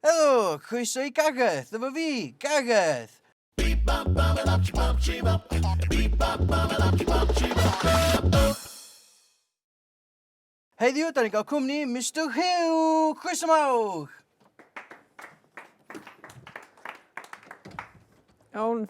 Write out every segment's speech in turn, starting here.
Helo! Croeso i Gareth! Dyma fi! Gareth! Heddiw, 'da ni'n cael cwmni Mister Huw! Croeso mawr! Iawn.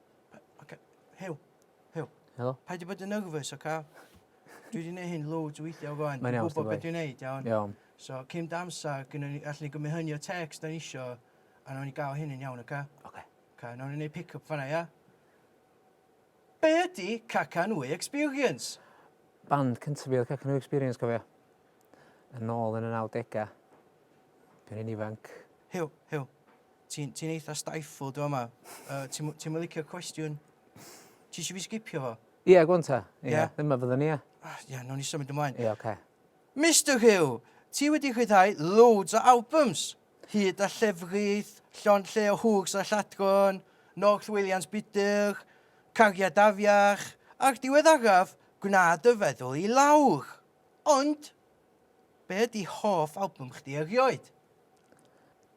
Oce. Huw. Huw. Helo. Paid â bod yn nervous, oce? Dwi wedi gwneud hyn loads o weithiau o flaen. Mae'n iawn, Dwi'n gwybod beth dwi'n gwneud, iawn? Iawn. So, cyn dy amser, gynnon ni, allwn ni gymryd hynny o text o'n isio, a nawn ni gael hyn yn iawn, oce? Oce. Oce, nawn ni wneud pick-up fanna, ia? Be ydy Cacanwy Experience? Band cyntaf fi oedd Cacanwy Experience, cofio? Yn ôl yn y 90au. Dwi'n un ifanc. Huw, Huw, Ti'n ti'n eitha stifled yn fama. Yy ti'm ti'm yn licio'r cwestiwn? Ti isio fi sgipio fo? Ie, go on ta. Ie. Ie? Dyma fyddwn ni, ie. Ah, Ie, nawn ni symud ymlaen. Ie, ocê. Mister Huw, ti wedi rhyddhau loads o albums, hyd a llefrith, llond lle o hwgs a lladron, North Williams Budr, Cariad Afiach, a'r diweddaraf, Gwna dy feddwl i lawr. Ond, be ydi hoff album chdi erioed?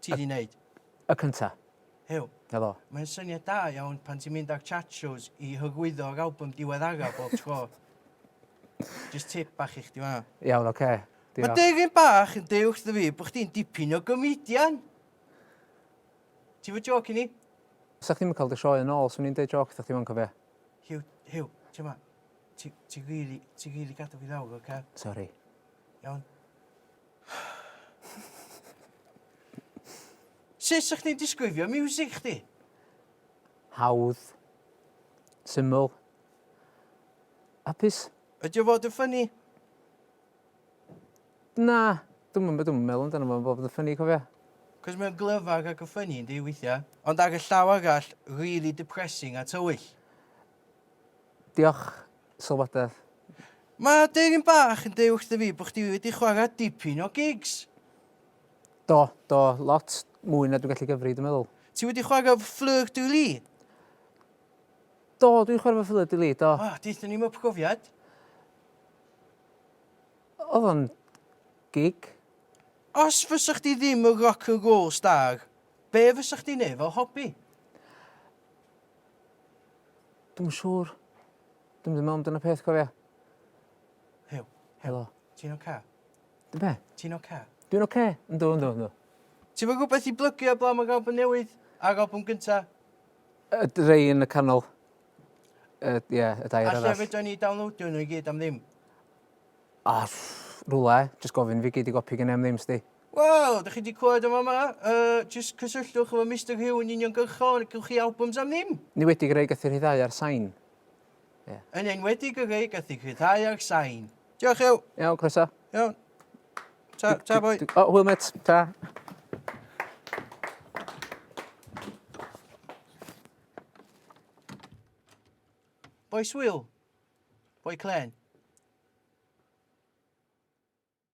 Ti 'di neud? Y cynta. Huw. 'Na fo. Mae'n syniad da iawn pan ti'n mynd â'r chat shows i hyrwyddo yr album diweddara bob tro. Jyst tip bach i chdi fan'na. Iawn, oce. Mae deugen bach yn deu wrtho fi bod chdi'n dipyn o gomedian! Ti fo joc i ni? Sa chdi'm yn cael dy sioe yn ôl, swn i'n deud joc wrtho chdi wan, cofia. Huw, Huw, ti ma, ti, ti rili, ti rili gadw fi lawr, oce? Sori. Iawn? Sut sa chdi'n disgrifio miwsig chdi? Hawdd. Syml. Hapus. Ydi o fod yn ffynnu? Na, dwi'm yn dwi'm yn meddwl amdano fo fod yn ffynnu cofia. Cos mae o'n glyfar ac yn ffynnu yndi weithia. Ond ar y llaw arall, rili depressing a tywyll. Diolch sylwadau. Mae dyn bach yn deud wrtho fi bod chdi wedi chwarae dipyn o gigs. Do, do, lot mwy na dwi'n gallu gyfri, dwi'n meddwl. Ti wedi chwarae efo Fleur de Lis? Do, dwi'n chwarae efo Fleur de Lis, do. O, deutha ni am y profiad. Oedd o'n gig. Os fysa chdi ddim yn rock and roll star, be fysa chdi'n neud fel hobi? Dwi'm yn siŵr. Dwi'm 'di me'wl am dan y peth cofia. Hyw. Helo. Ti'n oce? Dw be'? Ti'n oce? Dwi'n oce. Yndw yndw yndw. Ti'm yn gwbeth i blygio eblaw am y galbwn newydd? A'r albwm gynta? Y d- rei yn y canol. Y ie y dair arall. Alle fedrwn ni downloadio nhw i gyd am ddim. O, rwle, jyst gofyn fi gei di gopi gen i am ddim sdi. Wel, dych chi wedi clywed yn fama, uh, jyst cysylltwch efo Mister Hugh yn uniongyrchol ac gywch chi albums am ddim. Yn enwedig y rei gath ei rhyddhau ar sain. Yeah. Yn enwedig y rei gath ei rhyddhau ar sain. Diolch Hugh. Iawn, croeso. Iawn. Ta, ta boi. O, hwyl met, ta. Boys Will, Boi clên.